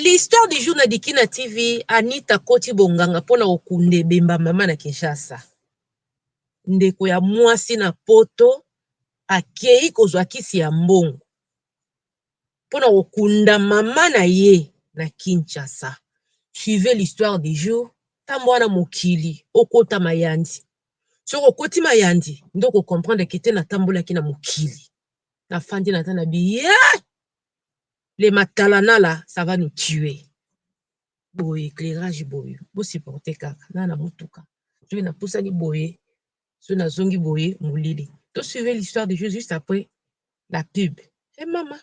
L'histoire du jour na Dikina TV, Anita akoti bonganga pona kokunda ebemba mama na Kinshasa. Ndeko ya mwasi na poto akeyi kozwa kisi ya mbongo pona kokunda mama na ye na Kinshasa. Suivez l'histoire du jour, tango wana mokili okota mayandi. Soki okoti mayandi nde oko comprendre que te natambolaki na mokili. nafandi naza na biye le matalanala ça va nous tuer boye éclairage boye bosupporte kaka na na motuka soki napusani boye soki nazongi boye molili to suivre l'histoire de jeux juste après la pub e hey mama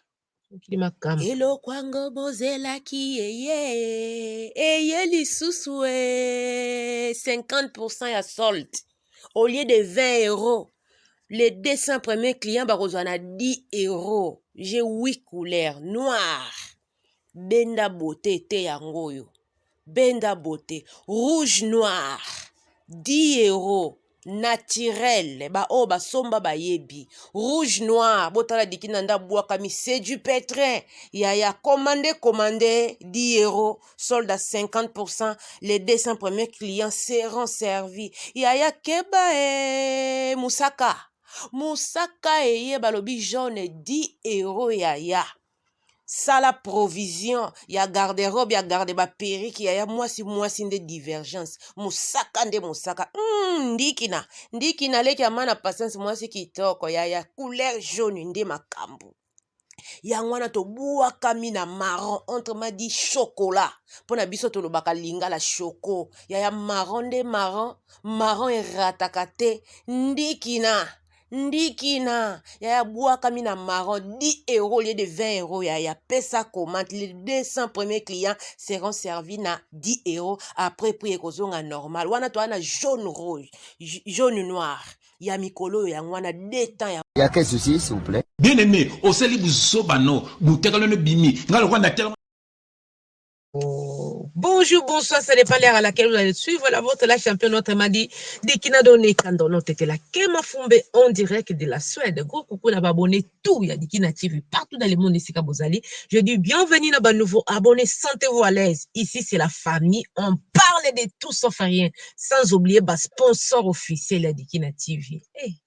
mokili makambo eloko yango bozelaki eye eye lisusu e 50 ya sold au lieu de 20 euros les 200 premiers clients bakozwa na 10 euros j'ai 8 couleurs noir benda beauté te yango oyo benda beauté rouge noir 10 euros naturel baoyo basomba bayebi rouge noir botala dikina nde abwakami c'est du pétrin yaya komande komande 10 euros solde à 50%, les 200 premiers clients seront servis. Yaya Keba et Moussaka. Moussaka et Balobi jaune 10 euros yaya. Sala provision ya garde-robe ya garde ba perruque yaya mwasi mwasi nde divergence mosaka nde mosaka mm, ndikina ndikina leki amana patience mwasi kitoko yaya couleur jaune nde makambo yango wana tobuakami na maron entre ma di chokola mpo na biso tolobaka lingala choko yaya maron nde maron maron erataka te ndikina ndikina yaya buakami na maron 10 euro lie de 20 euro yaya pesa commente le 200 premier client seront servi na 10 euro après prix ekozonga normal wana toa na jaune rouge jaune noire ya mikolo oyo yango wana deux temps ya Ya quel souci s'il vous plait? Bien aime osali buzoba no butakalo no ebimi nga lokola na telema. Bonjour, bonsoir, ça dépend l'heure à laquelle vous allez suivre la vôtre, la championne notre madi, Dikina Done Kando, notre la Kema Fumbe, en direct de la Suède. Gros coucou na babonné tout ya Dikina TV partout dans le monde esika bozali. Je dis bienvenue na ba nouveaux abonnés, sentez-vous à l'aise. Ici c'est la famille, on parle de tout sauf rien. Sans oublier ba sponsors officiels ya Dikina TV. Hey,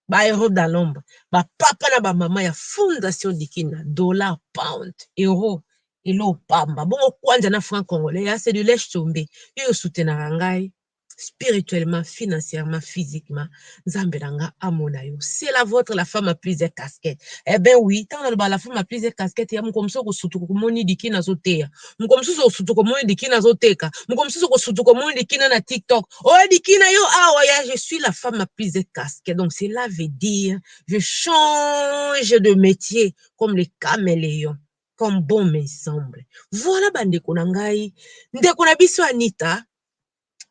ba héros dans l'ombre, ba papa na ba maman ya fondation Dikina, dollar, pound, euro, elo pamba. Bongo kwanja na franc congolais, ya c'est du lèche tombé. Yo yo soutenaka ngai. spirituellement, financièrement, physiquement, Nzambe na nga amona yo. C'est la votre la femme à plusieurs casquettes. Eh ben oui, tant na la femme à plusieurs casquettes, ya moko msoko sutuko komoni dikina azoteya. Moko msusu sutuko komoni dikina azoteka. Moko msusu ko sutuko komoni dikina na TikTok. Oh dikina yo awa ya je suis la femme à plusieurs casquettes. Donc cela veut dire je change de métier comme les caméléons comme bon me semble. Voilà bandeko na ngai. Ndeko na biso Anita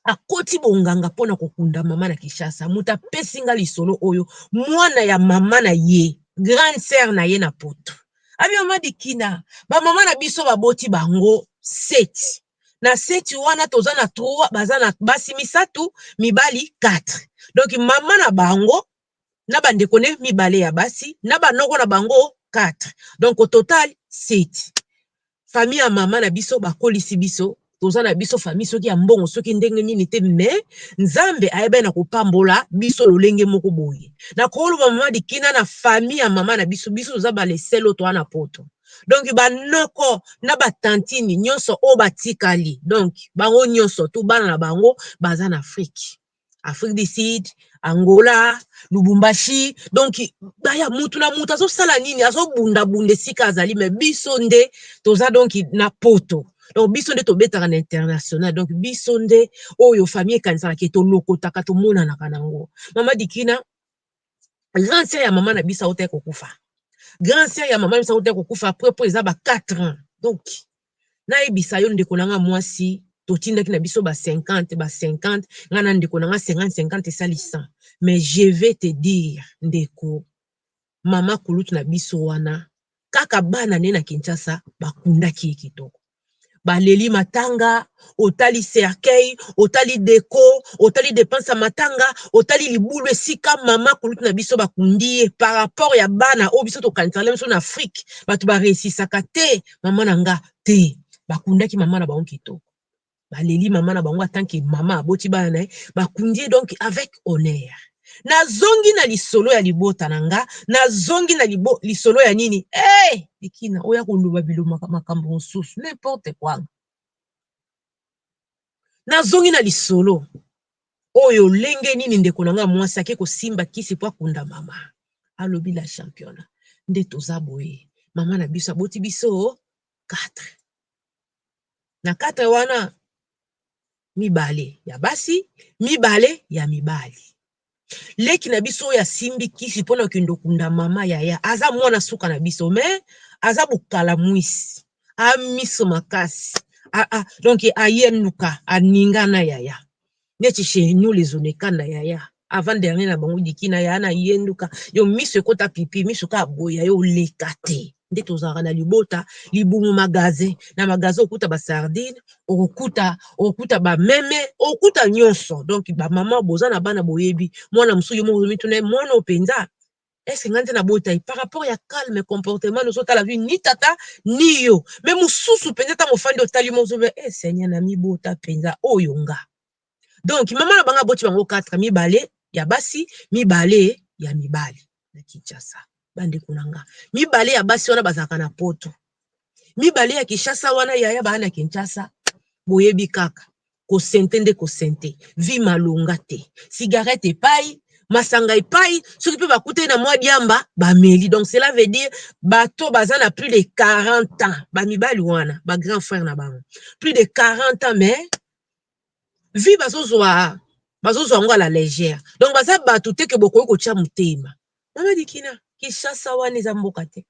akoti bonganga mpo na kokunda mama na Kinshasa. Moto apesi nga lisolo oyo, mwana ya mama na ye, grande sœur na ye na poto. Abi mama Dikina, ba mama na biso baboti bango seti. Na seti wana toza na trois, baza na basi misato, mibali 4. Donc mama na bango na ba ndeko ne mibale ya basi na ba noko na bango quatre donc au total sept famille ya mama na biso bakolisi biso toza na biso famille soki ya mbongo soki ndenge nini te mais nzambe ayebani na kopambola biso lolenge moko boye na koloba mama dikina na famille ya mama na biso biso toza baleselo toa na poto donc banoko na batantini nyonso oyo batikali donc bango nyonso tu bana na bango baza na afrike afrique du sud angola lubumbashi donc baya mutu na mutu azosala nini azobundabunda esika azali me biso nde toza donc na poto donc biso nde tobetaka na international donc biso nde oyo famille ekanisaka ke tolokotaka tomonanaka nango mama dikina grand sœur ya mama na biso auta kokufa grand sœur ya mama na biso auta kokufa après po eza ba 4 ans donc Nayebisa yo ndeko na nga mwasi totindaki na biso ba 50 ba 50 nga na ndeko na nga 50 50 esali 100 mais je vais te dire ndeko mama kulutu na biso wana kaka bana ne na Kinshasa bakundaki ye kitoko baleli matanga otali cercueil otali deko otali depense ya matanga otali libulu esika mama kulutu na biso bakundi ye par rapport ya bana oyo biso tokanisaka na biso na Afrique bato baresisaka te maman na nga te ba kundaki maman na bango kitoko ba leli maman na bango atant que maman aboti bana naye ba kundi ye donc avec honneur na zongi na lisolo ya libota na nga na zongi na libo, lisolo ya nini eh hey! likina oya koloba bilomaka makambo mosusu n'importe quoi Nazongi na lisolo oyo lenge nini ndeko na nga mwasi ake kosimba kisi po akunda mama. Alobi la championa nde toza boye mama na biso aboti biso 4 na 4 wana mibale ya basi mibale ya mibali. leki na biso oyo asimbi kisi pona okende okunda mama yaya aza mwana suka na biso mais aza bokalamuisi a miso makasi a, a, donc ayenuka aninga na yaya neti chez nous les oneka na yaya avant dernier na bango diki na yaya na yenduka yo miso ekota pipi miso ka boya yo oleka te nde tozalaka na libota libumu magasin na magasin okuta ba sardine okuta okuta ba meme okuta nyonso donc ba mama boza na bana boyebi mwana mosusu yo moko mituna ye mwana oyo mpenza ese ngai nde nabota ye par rapport ya calme comportement ozotala vi ni tata ni yo me mosusu mpenza ntango ofandi otali mozobe e eh, seigneur namibota mpenza oyo nga donc maman na bango aboti bango 4 mibale ya basi mibale ya mibali na Kinshasa bandeko na nga mibale ya basi wana bazalaka na poto mibale ya Kinshasa wana yaya baa na Kinshasa boyebi kaka kosente nde kosente vi malonga te cigarette epai masanga epai soki mpe bakutani na mwa diamba bameli donc cela veut dire bato baza na plus de 40 ans bamibali wana bagrand frère na bango plus de 40 ans mais vie bazozwa bazozwa yango à la legère donc baza bato te ke bokoki kotya motema mama dikina kishasa wana eza mboka te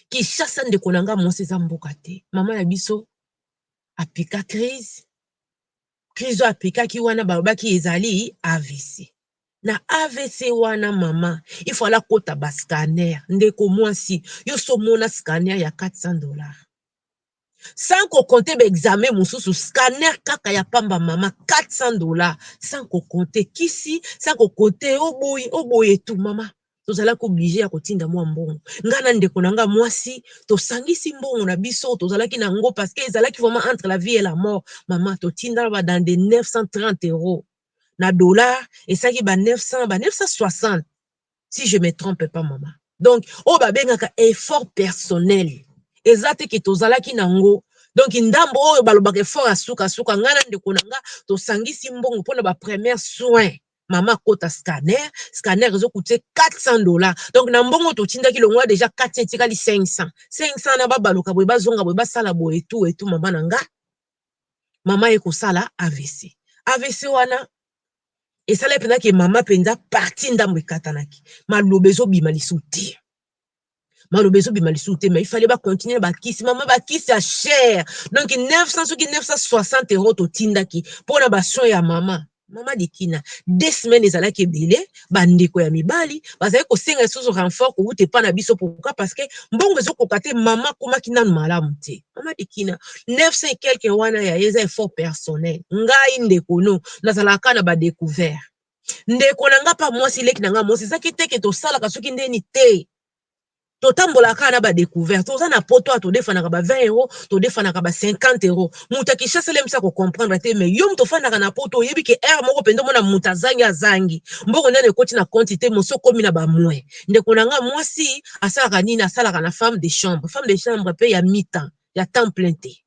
kishasa ndeko na nga mwasi eza mboka te mama na biso apika crise crise oyo apikaki wana balobaki ezali avc na avc wana mama ifala kota bascanner ndeko mwasi yo somona scanner ya 400 dollars sans ko compter ba examens mususu scanner kaka ya pamba mama 400 dollars sans ko compter kisi sans ko compter oyo boye oyo boye tout mama tozalaki obliger ya kotinda mua mbongo ngai na ndeko na ngai ya muasi tosangisi mbongo na biso oyo tozalaki na yango parce que ezalaki vraiment entre la vie et la mort mama totindaka ba dans de 930 euros na dollars esalaki ba 900 ba 960 si je me trompe pas maman donc oyo ba bengaka effort personnel eza te ke tozalaki na ngo donc ndambo oyo balobaka effort ya suka suka nga na ndeko na nga tosangisi mbongo pona ba première soin maman akota scanner scanner ezo coute 400 dollars donc na mbongo totindaki longwa deja 400 etikali 500 500 na babaluka boye bazonga boye basala boye tout et tout maman na nga maman ye kosala avc avc wana esalaki mpenza ke mama mpenza partie ndambo ekatanaki. Maloba ezobima lisusu te. Maloba ezobima lisusu te, mais il fallait ba continuer ba kisi. Mama ba kisi ya cher. Donc 900 soki 960 euros totindaki mpo na ba soins ya mama. Mama de kina deux semaines ezalaki ebele. bandeko ya mibali bazali kosenga lisusu renfort kowuta epai na biso pourquoi parce que mbongo ezokoka te mama akomaki nanu malamu te mama dikina 900 quelque wana ya ye eza effort personnel ngai ndeko no nazalaka kaka na ba decouvert ndeko na ngai mpa mwasi leki na ngai mwasi ezaki te ke tosalaka soki ndeni te totambola kaka na ba decouverte oza na poto awa todefanaka ba 20 euro todefanaka ba 50 euro moto ya kinshasa elemisi ya kocomprendre te mais yo moto ofandaka na poto oyebi ke heure moko mpenza omona moto azangi azangi mbongo nano ekoti na konti te mosi okomi na ba moin ndeko na ngai mwasi asalaka nini asalaka na femme de chambre femme de chambre mpe ya mitan ya temps plein te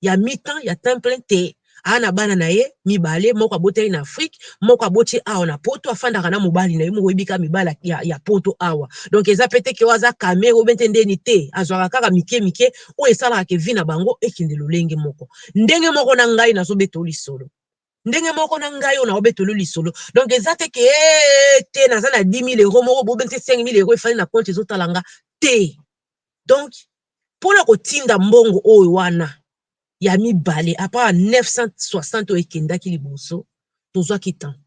ya mi temps ya temps plein te aza na bana na ye mibale moko aboteli na Afrique moko aboti awa na poto afandaka na mobali na ye moko oyebi kaka mibali ya, ya poto awa donc eza pe te ke oyo aza kame oyo bente ndeni te azwaka kaka mike mike oyo esalaka ke vie na bango ekende lolenge moko ndenge moko na ngai nazobetoo lisolo ndenge moko na ngai oyo naobetolo lisolo donc eza te ke ee te naza na 10000 euro moko bobente 5000 euro efali na compte ezotala nga te donc pona kotinda mbongo oyo wana ya mibale apres 960 oyo ekendaki liboso tozwaki temps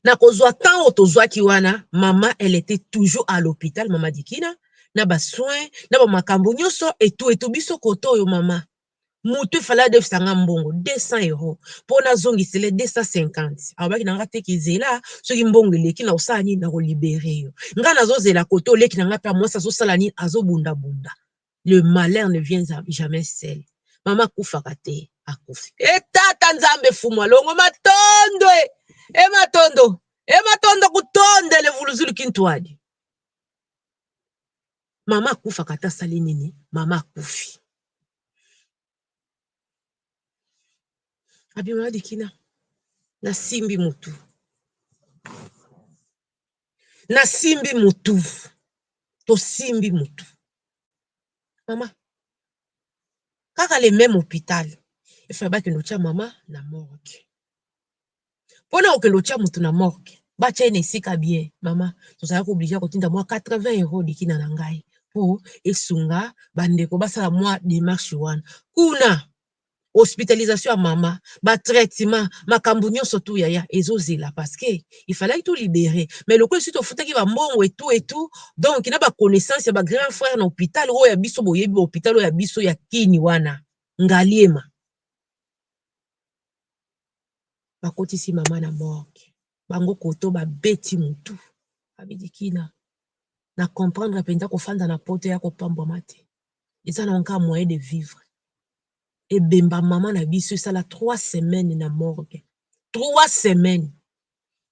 na kozwa temps oyo tozwaki wana mama elle etait toujours a l'hopital mama dikina na ba soins na ba makambu nioso etu etu biso kote oyo mama mutu il fallait adefisa nga mbongo 200 euros po nazongisela ye 250 alobaki na nga te ke zela soki mbongo eleki nakosala nini nako liberer yo nga nazozela kote oyo leki na nga pe ya muasi azosala nini azobunda bunda le malheur ne vient jamais seul mama akufaka te akufi e tata nzambe fumu alongo matondo e e matondo e matondo kutonda elevuluzulu kintuadi Mama akufaka ata asali nini mama akufi abima likina nasimbi mutu nasimbi mutu tosimbi mutu mama kaka le meme hopital il fallait bakende kotia mama na morgue pona okende otia mutu na morgue batia ye na esika ya bien mama tozalaki oblige ya kotinda mua 80 euro de kina na ngai po esunga ba ndeko basala mua demarche wana kuna hospitalisation ya mama ba traitement makambu nionso tout yaya ezozela parce que il fallaki to libere mais lokola esi tofutaki ba mbongo et tout et tout donc na ba connaissance ya ba grand frère na hopital oyo ya biso boyebi ba hopital oyo ya biso ya kini wana ngaliema bakotisi mama na morgue bango koto babeti mutu abidikina na comprendre mpenza kofanda na poto ya kopambwama te eza na yango moyen de vivre ebemba mama na biso esala trois semaine na morgue trois semaine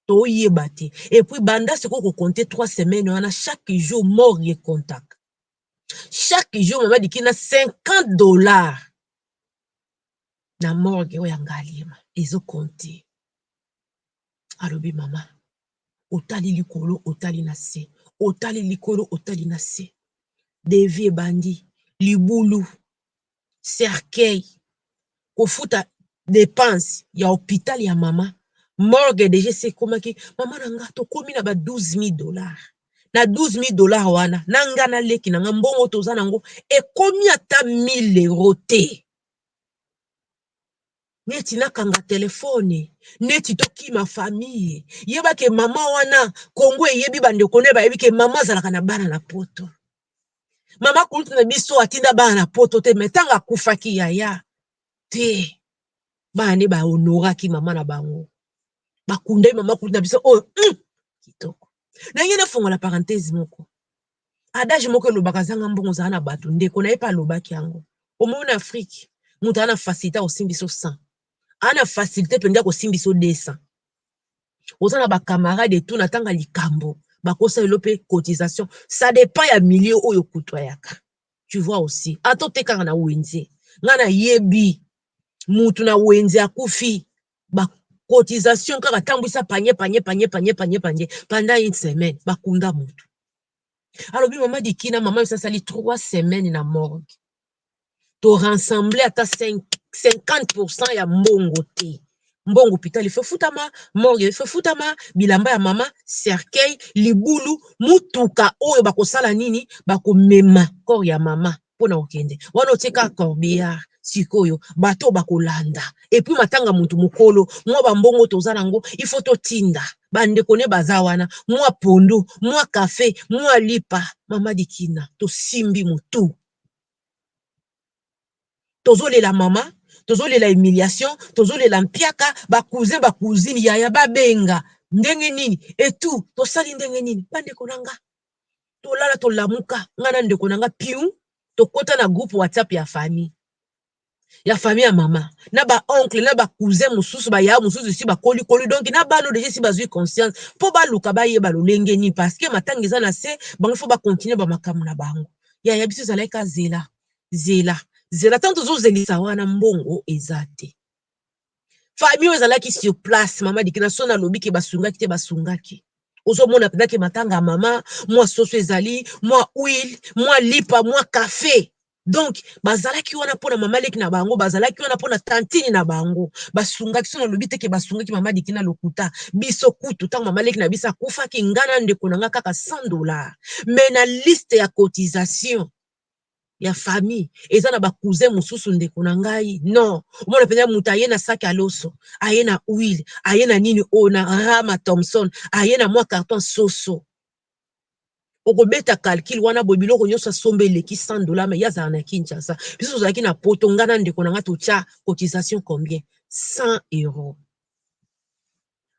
toyeba te epuis banda sikoyo kokonte trois semaine wana chaque jour morgue contact chaque jour mama dikina 50 dollars na morgue oyo ya ngaliema ezo compte alobi maman otali likolo otali na se otali likolo otali na se devis ebandi libulu cercueil kofuta depense ya hopital ya maman morgue deja esi ekomaki maman na nga tokomi na ba 12000 dollar na 12000 dollar wana na nga na leki na nga mbongo toza na yango ekomi ata 1000 euro te neti nakanga telefone neti tokima famille yeba ke mama wana kongo eyebi bandeko naye bayebi ke mama azalaka na bana na poto mama kulutu na biso atinda bana na poto te me ntango akufaki yaya te bana nde bahonoraki mama na bango bakundaki mama kulutu na biso oyo oh, mm, kitoko na ye nafongola parenthese moko adage moko elobaka zanga mbongo zala na batu ndeko naye pe alobaki yango omoni na afrique mutu aza na facilite akosimbi so 100 aza na facilite penza akosimbi so 200 oza na ba camarade etout na tanga likambo bakosa elo pe cotisation ça dépend ya milieu oyo okutuayaka tu vois aussi ata otekaka na wenze nga nayebi mutu na wenze akufi ba cotisation kaka tambwisa panye panye panye panye panye panye pendant une semaine ba kunda mutu alobi mama dikina mama yosi asali trois semaines na morgue to rassembler ata 5 50% ya mbongo te mbongo hopital ife futama morgue ife futama bilamba ya mama cercueil libulu mutuka oyo bakosala nini bakomema corps ya mama mpo na kokende wana otie kaka corbillard sikoyo bato oyo bakolanda epuis matanga motu mokolo mwa bambongo toza nango ifo totinda bandeko ne baza wana mwa pondu mwa kafe mwa lipa mama dikina tosimbi motu tozolela mama tozolela humiliation tozolela mpiaka bakuze bakuzini yaya babenga ndenge nini etu tosali ndenge nini bandeko na nga tolala tolamuka nga na ndeko na nga piu tokota na groupe whatsapp ya famille ya famille ya mama na ba oncle na ba cousin mosusu baya mosusu esi bakolikoli donk na bano deja esi bazwi conscience mpo baluka bayeba lolenge nini parce que matanga eza na se bango fo bakontinue bamakambo na bango yaya biso ezalaki ka zela zela zela ntango tozozelisa wana mbongo eza te Famille oyo ezalaki sur place, mama Dikina son alobi ke basungaki te, basungaki. Ozomona mpenza ke matanga ya mama, mwa soso ezali, mwa huile, mwa lipa, mwa cafe. Donc bazalaki wana mpo na mama leki na bango, bazalaki wana mpo na tantine na bango. Basungaki, son alobi te ke basungaki mama Dikina lokuta. Biso kutu ntango mama leki na biso akufaki, ngai na ndeko na ngai kaka 100 dollars. Mais na liste ya cotisation, ya famille eza na ba cousin mususu ndeko na ngai non omona penza mutu aye na sac ya loso aye na huile aye na nini oyo na rama thomson aye na mwa carton soso okobeta calcul wana boye biloko nyonso asomba eleki 100 dollars mais ye azala na Kinshasa biso tozalaki na poto ngai na ndeko na ngai totya cotisation combien 100 euros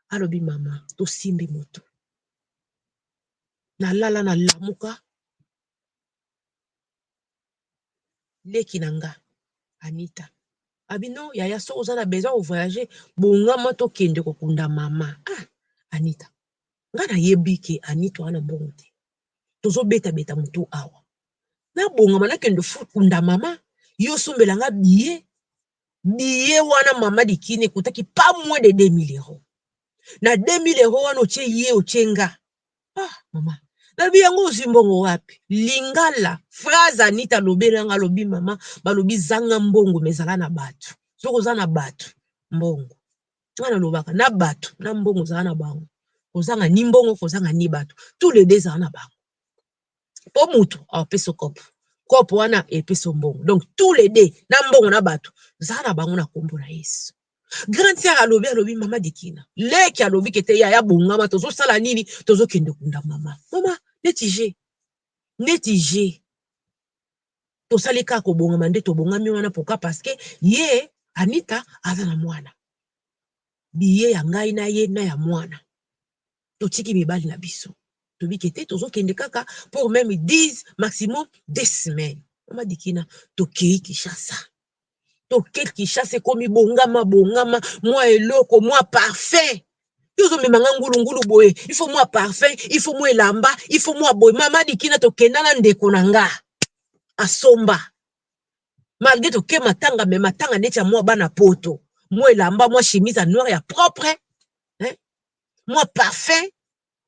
alobi mama tosimbi moto nalala nalamuka leki na nga Anita abi non yaya soki oza na besoin ya ko voyager bongama tokende kokunda mama ah Anita nga nayebi ke Anita oza na mbongo te tozo beta beta mutu awa nabongama nakende kokunda mama ye osombela nga billet billet wana mama dikini ekutaki pas moins de 2000 euros na 2000 euros wana otie ye otie nga ah mama nalobi yango ozwi mbongo wapi lingala phrase anita alobeli yango alobi mama balobi zanga mbongo me zala na bato soki oza na bato mbongo nga nalobaka na bato na mbongo zala na bango kozanga ni mbongo kozanga ni bato tous les deux zala na bango po mutu apesa yo coop coop wana epesa yo mbongo donc tout les deux na mbongo na batu zala na bango na kombo na yesu grand sœur alobi alobi mama dikina leki alobi kete yaya bongama tozo sala nini tozo kende kunda mama mama neti je neti je tosali kaka kobongama nde tobongami wana pourquoi parce que ye anita aza na mwana biye ya ngai na ye na ya mwana totiki mibali na biso tobike te tozo kende kaka pour meme 10 maximum de semaine mama dikina tokeyi kishasa toke kishasa ekomi bongama bongama mwa eloko mwa parfum tozomema nga ngulungulu boye ifo mwa parfum ifo mwa elamba ifo mwa boye mama dikina tokenda na ndeko na nga asomba malgre toke matanga me matanga neti ya mwa bana poto mwa elamba mwa chemise ya noire ya propre mwa parfum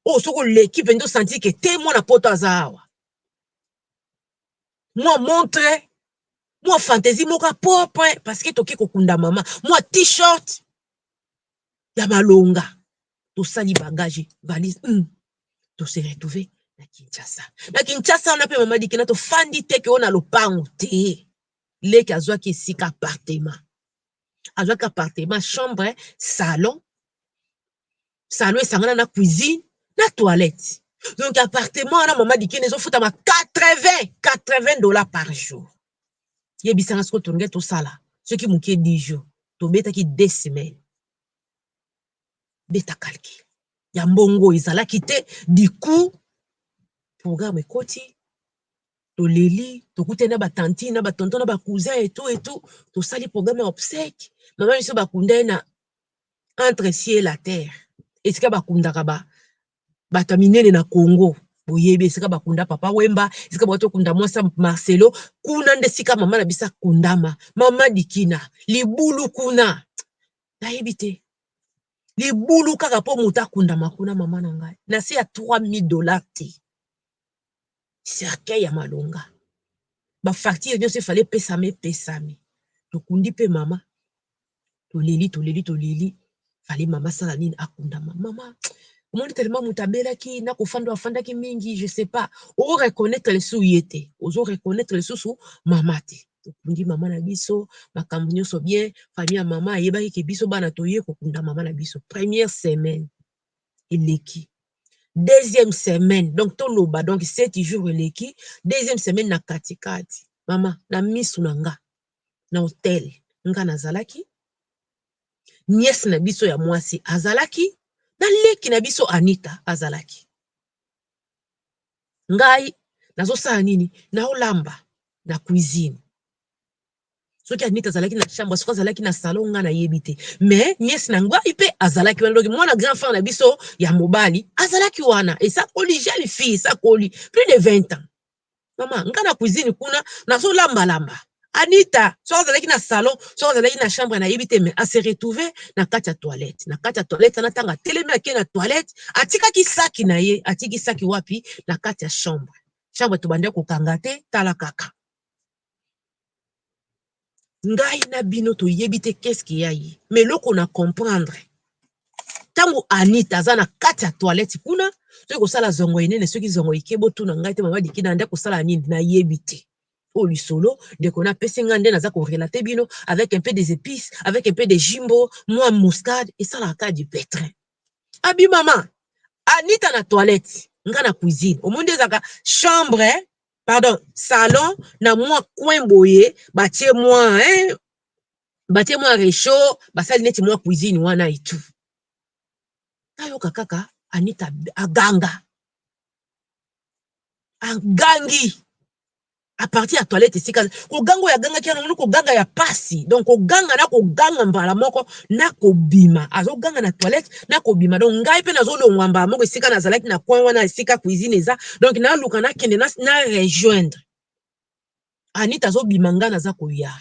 oyo soki oleki mpenza osanti ke te mwana poto aza awa mwa montre mwa fantaisie moko ya propre parce que toke kokunda mama mwa t-shirt ya malonga tosali bagage valise mm. tose retrouve na kinshasa na kinshasa wana mpe mama dikina tofandi teke oyo na lopango te leki azwaki esika apartema azwaki appartement chambre salon salon esangana na cuisine na toilette donc appartement wana mama dikeni ezofutama 80 80 dollars par jour yebisanga siko tolingai tosala soki moke 10 jours tobetaki 2 semaine beta calcul ya mbongo ezalaki te du coup programme ekoti toleli tokutani na ba tantine na ba tonton na ba cousin et tout et tout tosali programme ya obsèque mama biso bakunda ye na entre cieux et la terre esika bakundaka ba bato ya minene na congo boyebi esika bakunda papa wemba esika bauti kokunda mwasi ya marcelo kuna nde esika mama na biso akundama mama dikina libulu kuna nayebi te libulu kaka mpo moto akundama kuna mama na ngai na se ya 3000 dollars te cercueil ya malonga ba facture nionso il fallait epesama epesami tokundi pe mama toleli toleli toleli il fallait mama asala nini akundama mama omoni tellement mutu abelaki na kofanda oyo afandaki mingi je sais pas o reconnaitre lisusu ye te ozo reconnaitre lisusu mama te tokundi mama na biso makambo nionso bien famille ya mama ayebaki ke biso bana toye kokunda mama na biso première semaine eleki deuxième semaine donc toloba donc sept jours eleki deuxième semaine na kati kati mama na misu na nga na hotel nga nazalaki nièce na biso ya mwasi azalaki na leki na biso Anita azalaki ngai nazosala nini naolamba na cuisine soki anita azalaki na chambre soki azalaki na salon nga nayebi te mais niese na ngai mpe azalaki wana doki mwana grand frère na biso ya mobali azalaki wana esakoli jeune fille esakoli plus de 20 ans mama nga na cuisine kuna nazolambalamba anita soki azalaki na salon soki azalaki na chambre nayebi te mais ase retrouve na kati ya toilette na kati ya toilette wana ntango atelemi ake na toilette atikaki saki na ye atiki saki wapi na kati ya chambre chambre tobandaki kokanga te tala kaka Ngai na bino toyebi te qu'est-ce qu'il y a ye. Mais eloko na comprendre, tango Anita aza na kati ya toilette kuna, soki kosala zongo enene, soki zongo ike, botuna ngai te mama Dikina nayandaki kosala nini? Nayebi te. Oyo lisolo ndeko na apesi ngai nde naza ko relater bino avec un peu des epices, avec un peu de jimbo, mua muscade, esalaka kaka du petrin. Abi mama, Anita na toilette, ngai na cuisine. Omoni nde ezalaka chambre pardon salon na mua coin boye batie mua hein batie mua rechaud basali neti mua cuisine wana et tout nayoka kaka Anita aganga agangi à partir ya toilette esika koganga oyo agangaki wana omoni koganga ya pasi donc koganga na koganga mbala moko na kobima azoganga na toilette na kobima donc ngai pe nazolongwa mbala moko esika nazalaki na coin wana esika cuisine eza donc naluka nakende na, na rejoindre anita azobima ngai naza koya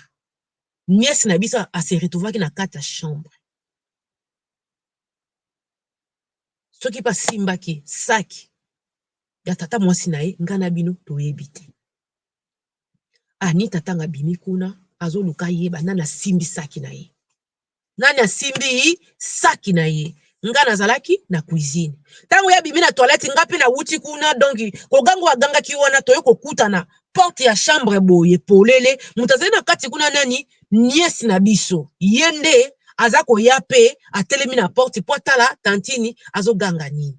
nièce na biso ase retrouvaki na kati ya chambre soki mpe asimbaki saki ya tata mwasi na ye ngai na bino toyebi te Anita ntango abimi kuna, azoluka ayeba nani asimbi saki na ye. Nani asimbi saki na ye? Nga nazalaki na cuisine. Ntango ye abimi na toilette, nga mpe nawuti kuna, donc koganga oyo agangaki wana, toye kokutana porte ya chambre boye polele, moto azali na kati kuna nani? Nièce na biso. Ye nde aza koya mpe atelemi na porte mpo atala tantine azoganga nini.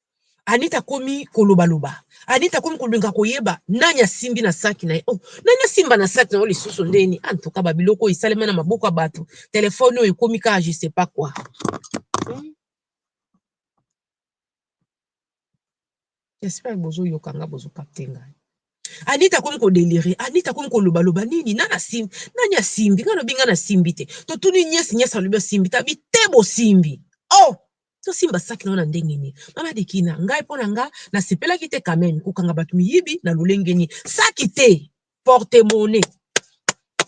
Anita akomi koloba loba. Anita akomi kolinga koyeba nani asimbi na saki na ye. Oh, nani asimba na saki na yo lisusu ndeni? En tout cas, babiloko oyo esalema na maboko ya bato. Telefone oyo ekomi kaka je sais pas quoi. Hmm? J'espère bozo yoka nga bozo capter ngai. Anita akomi kodelire. Anita akomi koloba loba nini? Nani asimbi? Nani asimbi? Nga lobi nga nasimbi te. Totuni nyesi nyesi alobi asimbi. Tabi te bosimbi. Oh! To simba sac na yo na ndenge nini? Mama Dikina, ngai po na nga na sepelaki te quand meme ko kanga batu miyibi na lolenge nini? Sac te, porte monnaie.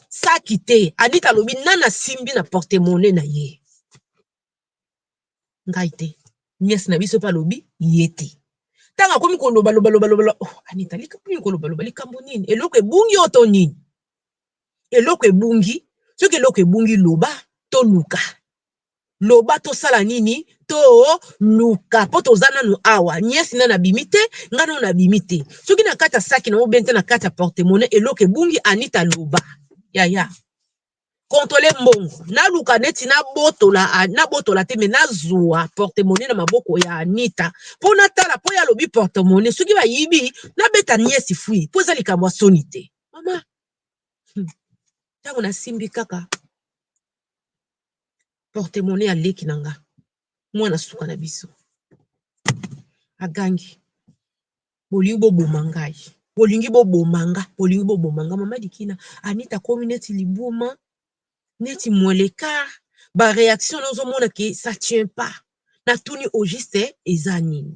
Sac te, Anita alobi nani asimbi na porte monnaie na ye? Ngai te, nièce na biso pe alobi ye te. Tangu akomi ko loba loba loba loba, oh Anita likambu nini ko loba loba, likambu nini? Eloko ebungi yo to nini? Eloko ebungi, soki eloko ebungi loba to luka. loba tosala nini to luka po toza nanu awa nièce nanu abimi te nga nanu na bimi te soki na kati ya saki na yo bente na kati ya porte monnaie eloko ebungi anita loba yaya controle mbongo na luka neti na botola na botola te me na zua porte monnaie na maboko ya anita po na tala po ya lobi porte monnaie soki ba yibi na beta nièce fui po eza likambo ya soni te mama tango na simbi kaka porte monnaie ya leki na nga mwana suka na biso agangi bolingi boboma ngai bolingi boboma nga bolingi boboma nga mama dikina anita akomi neti libuma neti molekar ba reaction nazomona ke ça tient pas natuni au juste eza nini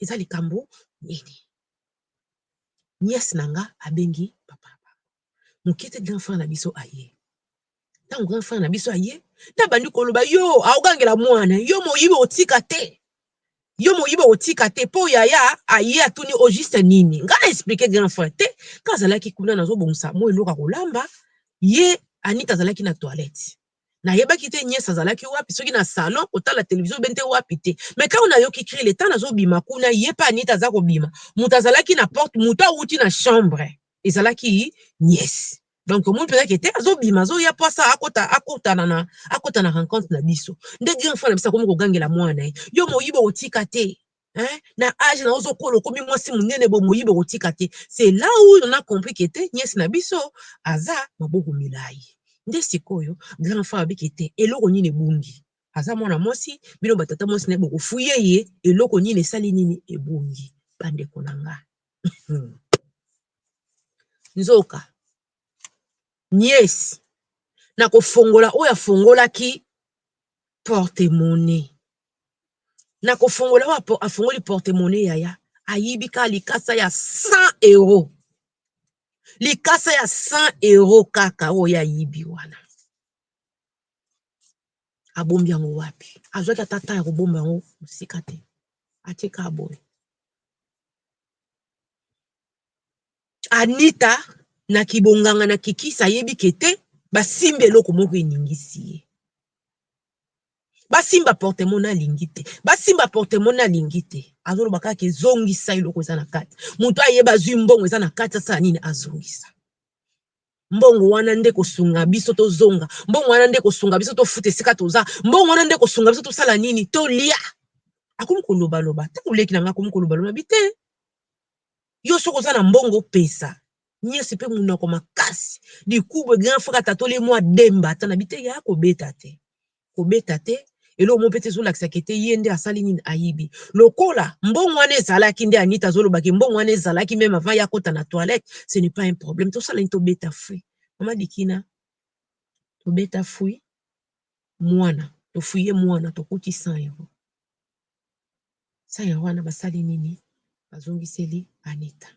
eza likambu nini nièce na nga abengi papa na bango mukie te grand frère na biso aye tangu grand frère na biso aye na bandi koloba yo aogangela muana yo moyibi otika te yo moyibi otika te po yaya aye atuni o juste nini nga na explique grand frère te nga azalaki kuna nazobongisa mua eloko ya kolamba ye anita azalaki na toilette Nayebaki te nièce azalaki wapi, soki na salon kotala television oubien te wapi te. Mais tango nayoki cri le temps nazo bima kuna ye pe Anita aza kobima, mutu azalaki na porte mutu awuti na chambre ezalaki nièce. Donc omoni penza ke te azo bima azo ya po asa akota akotana na akota na rencontre na biso. Nde grand frère na biso akomi kogangela mwana na ye yo moyibi okotika te. Hein? Na age na ozo kola okomi mwasi munene bo moyibi okotika te. C'est là où on a compris que te nièce na biso aza maboko milayi. Nde sikoyo grand frère alobi que te eloko nini ebungi? Aza mwana mwasi bino ba tata mwasi na ye boko fouiller ye eloko nini esali nini ebungi ba ndeko na nga. Hum. Nzoka nièce na ko fongola oyo afongolaki porte monnaie na ko fongola oyo afongoli porte monnaie yaya ayibi kaka likasa ya 100 euro likasa ya 100 euro kaka oyo ye ayibi wana abombi yango wapi azwaki ata temps ya kobomba yango mosika te atie kaka boye. Anita na kibonganga na kikisi ayebi ke te basimbi eloko moko eningisi ye. Basimba portemone alingi te, basimba portemone alingi te, azoloba kaka ke zongisa eloko eza na kati. Moto ayeba azwi mbongo eza na kati asala nini? Azongisa. Mbongo wana nde ekosunga biso tozonga, mbongo wana nde ekosunga biso tofuta esika toza, mbongo wana nde ekosunga biso tosala nini? Tolia. Akomi kolobaloba, ntango leki na ngai akomi kolobaloba, nabi te, Yo soki oza na mbongo pesa. Nièce pe munoko makasi dikubu grand frère atatoli ye mua demba ata na bi te yaya kobeta te kobeta te eloko moko pe te ezolakisa ke te ye nde asali nini ayibi lokola mbongo wana ezalaki nde anita azoloba ke mbongo wana ezalaki meme avant ye akota na toilette ce n'est pas un problème tosala nini tobeta fruit mama dikina tobeta fruit mwana tofuye mwana tokuti 100 euro Saya wana basali nini bazongiseli Anita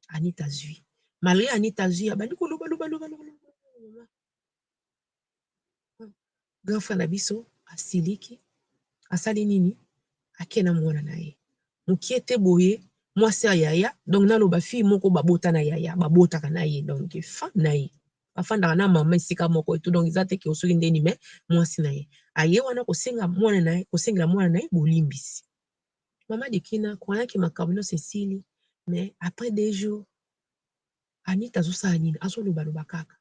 Anita azui malgre Anita azui abandi koloba loba loba loba grand frère na biso asiliki asali nini ake na mwana na ye mokie te boye mwasi ya yaya donc naloba fille moko babota na yaya babotaka na ye donc femme na ye bafandaka na mama esika moko etu donc eza te ke soki ndeni me mwasi na ye aye wana kosenga mwana na ye kosengela mwana na ye bolimbisi mama dikina koyanke makambo nyonso esili mais après deux jours anita azosala nini azolobaloba kaka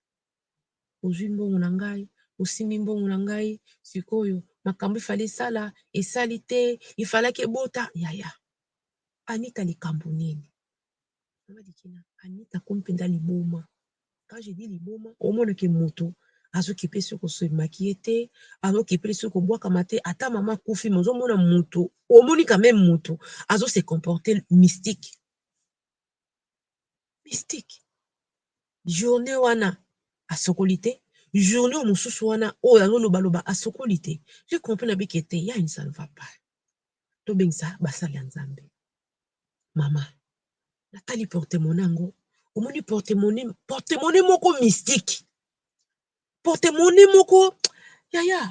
ozwi mbongo na ngai osimbi mbongo na ngai sikoyo makambo ifali esala esali te ifalaki ebota yaya anita likambo nini Anita akomi mpenza liboma quand je dis liboma omona que mutu azo kipe se ko se maquiller te, azo kipe se ko bwakama te ata mama akufi mais ozo mona mutu omoni quand meme mutu azo se comporter mystique, mystique journee wana asokoli te, journee oyo mosusu wana oyo azo loba loba asokoli te je comprends na bike te il y'a une ça ne va pas tobengisa basali ya Nzambe. Maman, natali porte monnaie yango, omoni porte monnaie, porte monnaie moko mystique, porte monnaie moko yaya,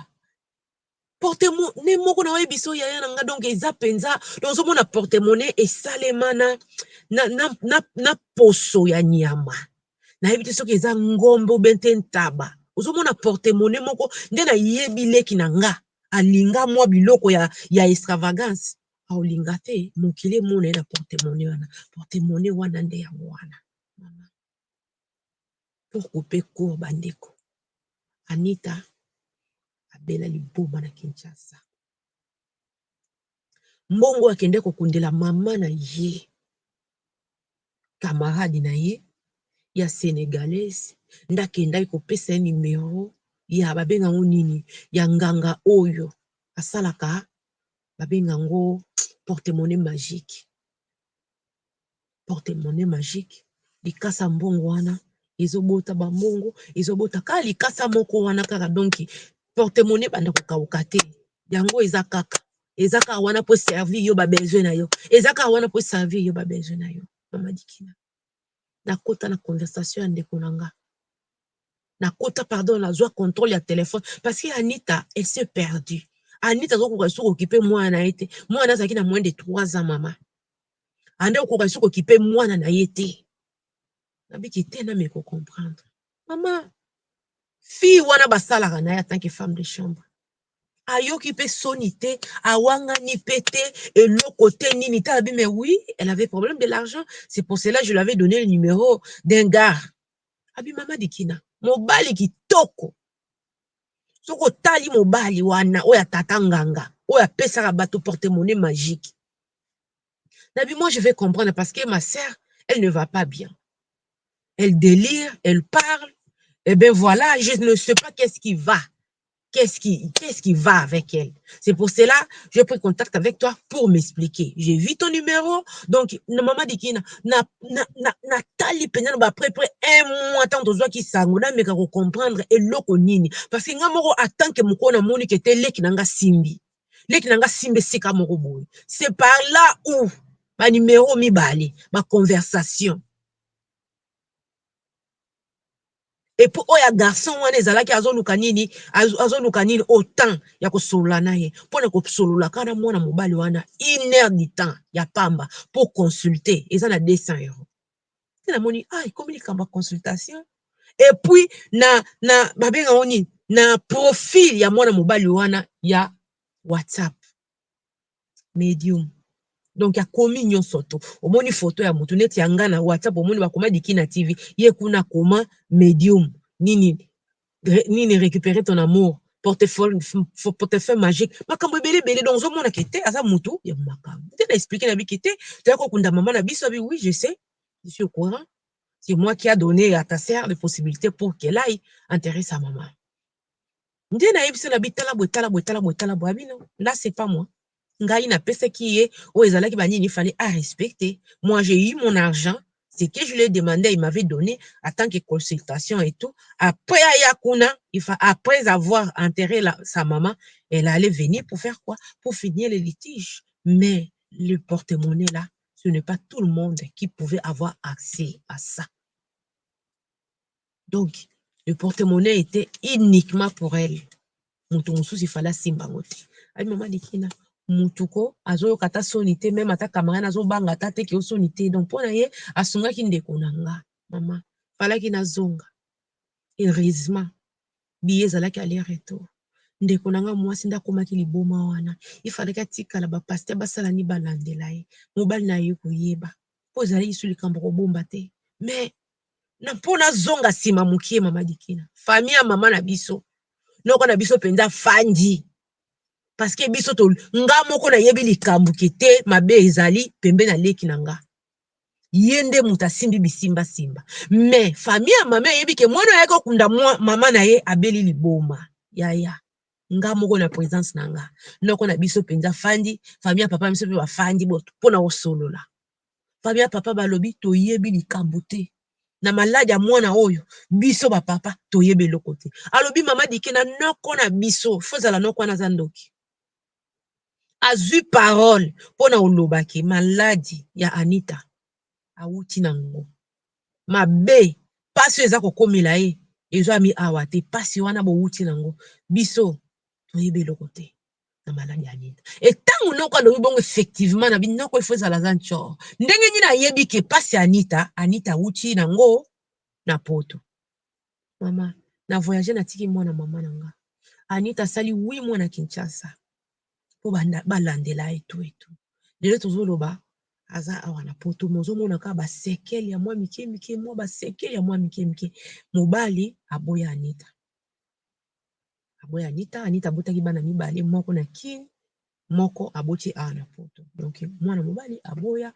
porte monnaie moko na yebi biso yaya na nga donc eza penza, donc ozo mona porte monnaie esalema na na na na poso ya nyama, na yebi te soki eza ngombe ou bien te ntaba, ozo mona porte monnaie moko nde na yebi leki na nga alinga mua biloko ya extravagance. Aolinga te mokili emona ye na porte monnaie wana. Porte monnaie wana nde yango wana. Mama. Pour couper court ba ndeko. Anita abela liboma na Kinshasa. Mbongo akende kokundela mama na ye. Camarade na ye ya senegalaise nde akendaki kopesa ye numero ya babenga yango nini ya nganga oyo asalaka babenga yango porte monnaie magique, porte monnaie magique likasa ya mbongo wana ezo bota ba mbongo ezo bota kaka likasa moko wana kaka donc porte monnaie ebanda ko kauka te yango eza kaka eza kaka wana po e servir yo ba besoin na yo eza kaka wana po e servir yo ba besoin na yo mama dikila. nakota na conversation ya ndeko na nga, nakota pardon nazua controle ya telephone parce que Anita elle s'est perdue, Anita azo koka lisusu ko occuper mwana na ye te, mwana na ye azalaki na moins de 3 ans mama, Anita ako koka lisusu ko occuper mwana na ye te, nabiki te nami ko comprendre mama fille wana basalaka na ye en tant que femme de chambre ayoki mpe soni te awangani mpe te eloko te nini tala bi mais oui elle avait problème de l'argent c'est pour cela je lui avais donné le numéro d'un gars abi mama dikina mobali kitoko soki otali mobali wana oyo ya tata nganga oyo apesaka bato porte monnaie magique nabi moi je vais comprendre parce que ma sœur elle ne va pas bien elle délire elle parle et eh bien voilà je ne sais pas qu'est-ce qui va Qu'est ce qui, qu'est ce qui va avec elle? C'est pour cela j'ai pris contact avec toi pour m'expliquer. J'ai vu ton numéro, donc na maman Dikina, na na na na tali pena na après près un mois tant tozwa ki sango na meka ko comprendre eloko nini parce que nga moko en tant que moko na moni que te leki na nga simbi. Leki na nga simbi esika moko boye. C'est par là où ba numéro mibale, ba conversation. Et puis oyo ya garçon wana ezalaki azoluka nini? Azoluka nini oyo temps ya kosolola na ye mpo na kosolola kaka na mwana mobali wana une heure du temps ya pamba pour consulter eza na 200 euros te namoni ah ekomi likambo ya consultation et puis na na babenga yango nini na profil ya mwana mobali wana ya WhatsApp medium donc akomi nionso tout omoni photo ya mutu neti ya nga na WhatsApp omoni bakoma dikina TV ye kuna akoma medium nini nini recuperer ton amour portefeuille portefeuille magique makambo ebele ebele donc ozomona ke te aza mutu ya makambo nde na expliquer na biki te toya kokunda mama na biso abi oui je sais je suis au courant c'est moi qui a donné à ta sœur les possibilités pour qu'elle aille enterrer sa maman nde na yebisi na bi tala boye tala boye tala boye tala boye abi non là c'est pas moi ngai na pesaki ye oyo ezalaki ba nini il fallait a respecter moi j'ai eu mon argent ce que je lui ai demande il m'avait donne en tant que consultation et tout après aya kuna il fa après avoir enterré la, sa maman elle allait venir pour faire quoi pour finir les litiges mais le porte-monnaie là ce n'est pas tout le monde qui pouvait avoir accès à ça Donc le porte monnaie etait uniquement pour elle, mutu mususu il fallait asimba yango te, abi maman Dekena mutu ko azo yoka ata soni te, meme ata camarade azo banga ata te que yo soni te, donc pona ye asungaki ndeko na nga maman, falaki nazonga, heureusement billet ezalaki aller retour, ndeko na nga muasi nde akomaki liboma wana, il falaki atikala ba pasteur basala nini balandela ye, mobali naye aye koyeba, po ezalaki lisusu likambo ya kobomba te, mais na mpo nazonga nsima mokie mama dikina fami ya mama na biso noko na biso mpenza fandi parceke biso to nga moko nayebi likambo ke te mabe ezali pembe na leki na nga ye nde moto asimbi bisimbasimba me fami ya mama eyebi ke mwana ayaki okunda mama na ye abeli liboma yaya nga moko na presence na nga noko na biso mpenza fandi fami ya papa na biso mpe bafandi mpo na kosolola famille ya papa balobi toyebi likambu te na malade ya mwana oyo biso ba papa toyebi eloko te alobi mama dike na noko na biso fozala noko wana aza ndoki azui parole mpo na olobaki maladi ya anita awuti na ngo mabe pasi oyo eza kokomela ye ezwami awa te pasi wana bowuti na ngo biso toyebi eloko te na maladi ya nini e ntango noko alobi bongo effectivement na bi noko ifo ezala aza ncor ndenge nini ayebi ke mpasi ya anita anita awuti na ngo na poto mama na voyage natiki mwana mama na nga anita asali wi mwana kinshasa mpo balandela etu etu lelo tozoloba aza awa na poto me ozomona kaka basekele ya mwa mike mike mwa basekele ya mwa mike mike mobali aboya anita aboyi Anita. Anita abotaki bana mibale, moko na Kin, moko aboti awa na poto. Donc mwana mobali aboya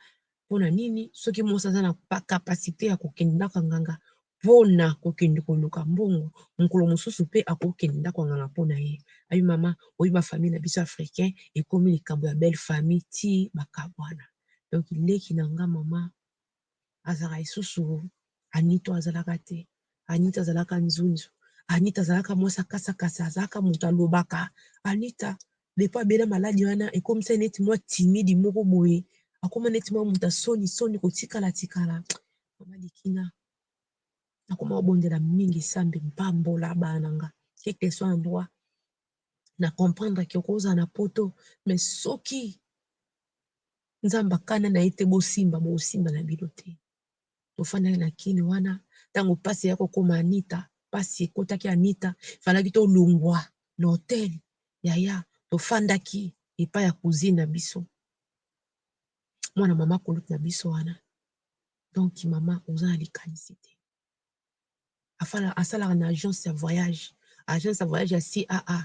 pona nini? Soki mwasi aza na capacite ya kokende ndako ya nganga pona kokende koluka mbongo, mokolo mosusu pe akoki kokende ndako ya nganga pona ye. Abi mama oyebi ba famille na biso africain ekomi likambo ya belle famille tii bakabwana. Donc leki na nga mama azalaka lisusu Anita oyo azalaka te, Anita azalaka nzunzu, Anita azalaka mwasi ya kasa kasa, azalaka mutu alobaka, Anita depuis abela maladi wana ekomisa ye neti mwa timide moko boye, akoma neti mwa mutu ya soni soni kotikala tikala, mama Dikina nakoma kobondela mingi Nzambe pambola bana na nga quel que soit endroit, na comprendre que okozala na poto mais soki Nzambe akana na ye te bosimba bokosimba na bino te tofandaki na kin wana ntango pasi ya kokoma anita pasi ekotaki anita falaki tolongwa na hotel yaya tofandaki epai ya cousine na biso mwana mama kulutu na biso wana donc mama oza na likanisi te asalaka na agence ya voyage, agence ya voyage ya CAA,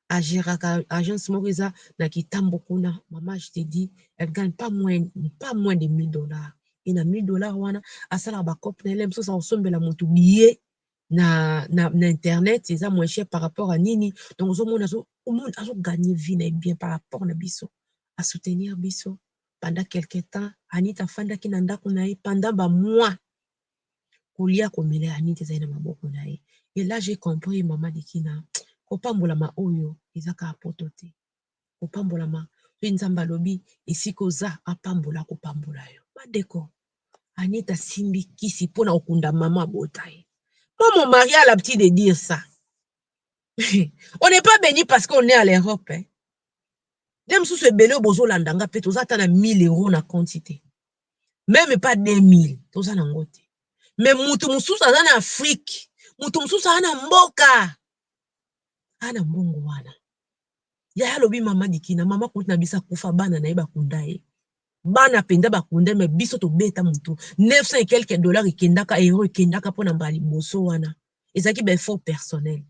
a geraka agence moko eza na Kitambo kuna, mama je te dis, elle gagne pas moins, pas moins de 1000 dollars, et na 1000 dollars wana asalaka ba coop na ye, mosusu akosombela mutu billet na, na, na internet, eza moins cher par rapport à nini, donc ozomona azo, omoni azo gagner vie na ye bien par rapport na biso, a soutenir biso pendant quelque temps, Anita afandaki na ndaku na ye pendant ba mois, kolia komela ya Anita ezali na maboko na ye et là j'ai compris maman Dikina kopambolama oyo eza kaka poto te kopambolama pe Nzambe alobi esika oza apambola akopambola yo ba ndeko Anita asimbi kisi pona kokunda maman abota ye moi mon mari a l'habitude de dire ça on n'est pas béni parce qu'on est à l'Europe hein nde mosusu ebele oyo bozolanda nga mpe toza ata na 1000 euro na konti te meme pas 2000 toza na ngo te mais mutu mususu aza na afrique mutu mususu aza na mboka ana mbongo wana yaya alobi mama dikina mama kutu na biso akufa bana na ye bakunda ye bana mpenza bakunda me biso tobeta motu 900 et quelque dollar ekendaka euro ekendaka mpo na mbala liboso wana ezalaki ba effort personnel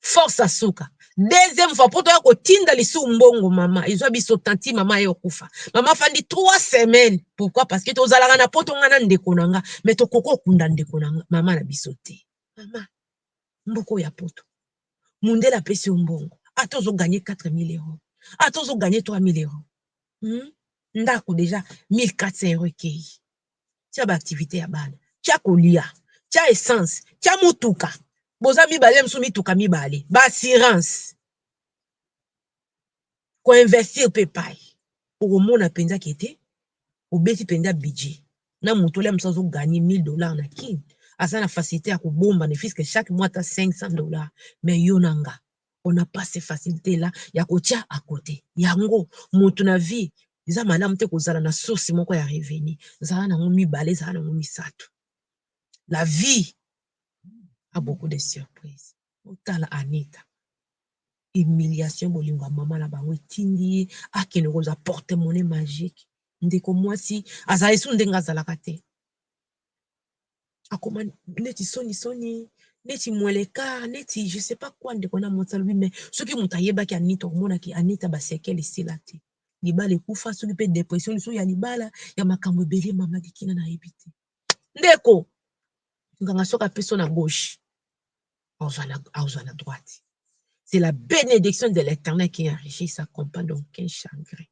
force à suka deuxième fois poto ya kotinda lisu mbongo mama ezwa biso tanti mama ye okufa mama fandi 3 semaines pourquoi parce que tozalaka na poto nga na ndeko na nga mais tokoki okunda ndeko na nga mama na biso te mama mboko ya poto mundele apesi yo mbongo ata ozo gagne 4000 euros ata ozo gagne 3000 euros hmm? ndako deja 1400 euros ekei tia ba activite ya bana tia kolia tia essence tia mutuka boza mibale mosusu mituka mibale ba assurance ko investir pe pai okomona mpenza ke te obeti mpenza budget na moto olia mosusu azo gagner 1000 dollars na kin aza na facilite ya kobomba ne fiske chaque mois ata 500 dollars mais yo na nga on a pas ce facilite la ya kotia a cote yango mutu na vie eza malamu te kozala na source moko ya revenu zala nango mibale zala nango misatu la vie a beaucoup de surprise otala anita humiliation bolingo ya mama na bango etindi ye akende kozwa porte monnaie magique ndeko mwasi azali su ndenge azalaka te akoma neti soni soni neti mweleka neti je sais pas quoi ndeko na mwasi alobi mais soki moto ayebaki anita omonaki anita ba sekele esila te libala ekufa soki mpe depression liso ya libala ya makambo ebele mama dikina nayebi te ndeko nganga soki apeso na gauche azwa na droite c'est la benediction de l'Eternel qui enrichit sa compagne donc un chagrin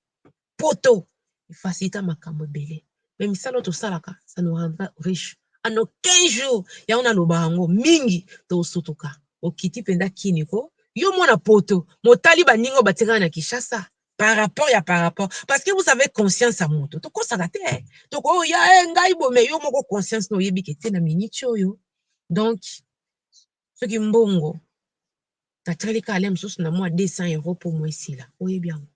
poto efacilita makambo ebele me misala oyo tosalaka ça nous rendra riche en aucun jour yango naloba yango mingi tosutuka okiti mpenza kini ko yo mwana poto motali baninga oyo batikala na kinshasa par rapport ya par rapport parce que vous avez conscience ya moto tokosaka te tokoya e eh, ngai bome yo moko conscience na oyebi ke te na miniti oyo donc soki mbongo natali ka ale mosusu na mwa 200 euro mpo mwa esila oyebi yango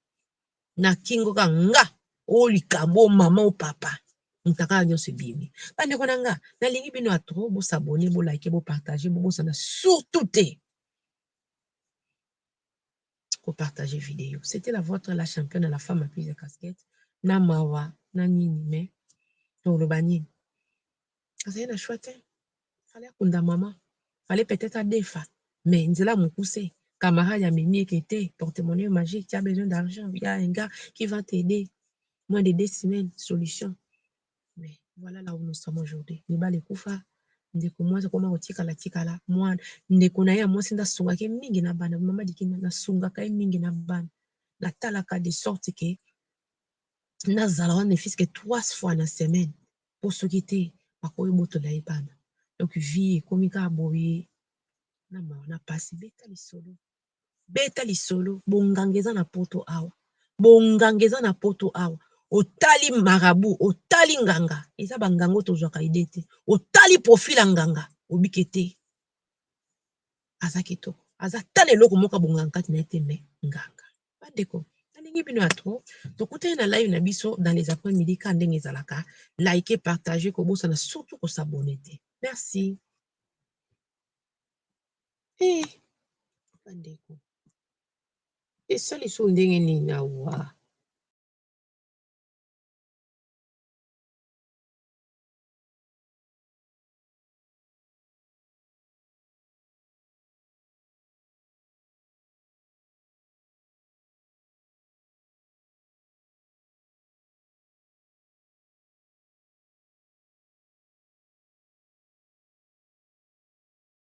na kingo ka nga o likambo o mama o papa mutakala nyonso ebimi bandeko na nga nalingi bino ya trop bosabone bolike bopartage bobosana surtout te ko partager video c'etait la votre la championne à la femme à plus de casquette na mawa na nini mais toloba nini azali na choix te fale akunda mama fale peut-être adefa mais nzela mokuse camarade ya mimi eke te porte-monnaie magique tu as besoin d'argent il y a un gars qui va t'aider moins de deux semaines solution Mais voilà là où nous sommes aujourd'hui libala ekufa ndeko muasi akoma kotikala tikala muana ndeko na ye ya muasi nde asungaka ye mingi na bana mama dikina nasungaka ye mingi na bana natalaka de sorte que nazala wana ne fils que trois fois na semaine po soki te bakoki botola ye bana donc vie ekomi kaka boye na mawa na pasi beta lisolo beta lisolo bonganga eza na poto awa bonganga eza na poto awa otali marabu otali nganga eza bangango tozwaka ide te otali profil ya nganga obike te aza kitoko aza tala eloko moko bonganga kati na ye te me nganga bandeko nalingi bino ya tro tokutani na live na biso dans les après midi ka ndenge ezalaka like partage kobosana surtout kosabone te merci Eh, bandeko, esali so ndenge nini awa?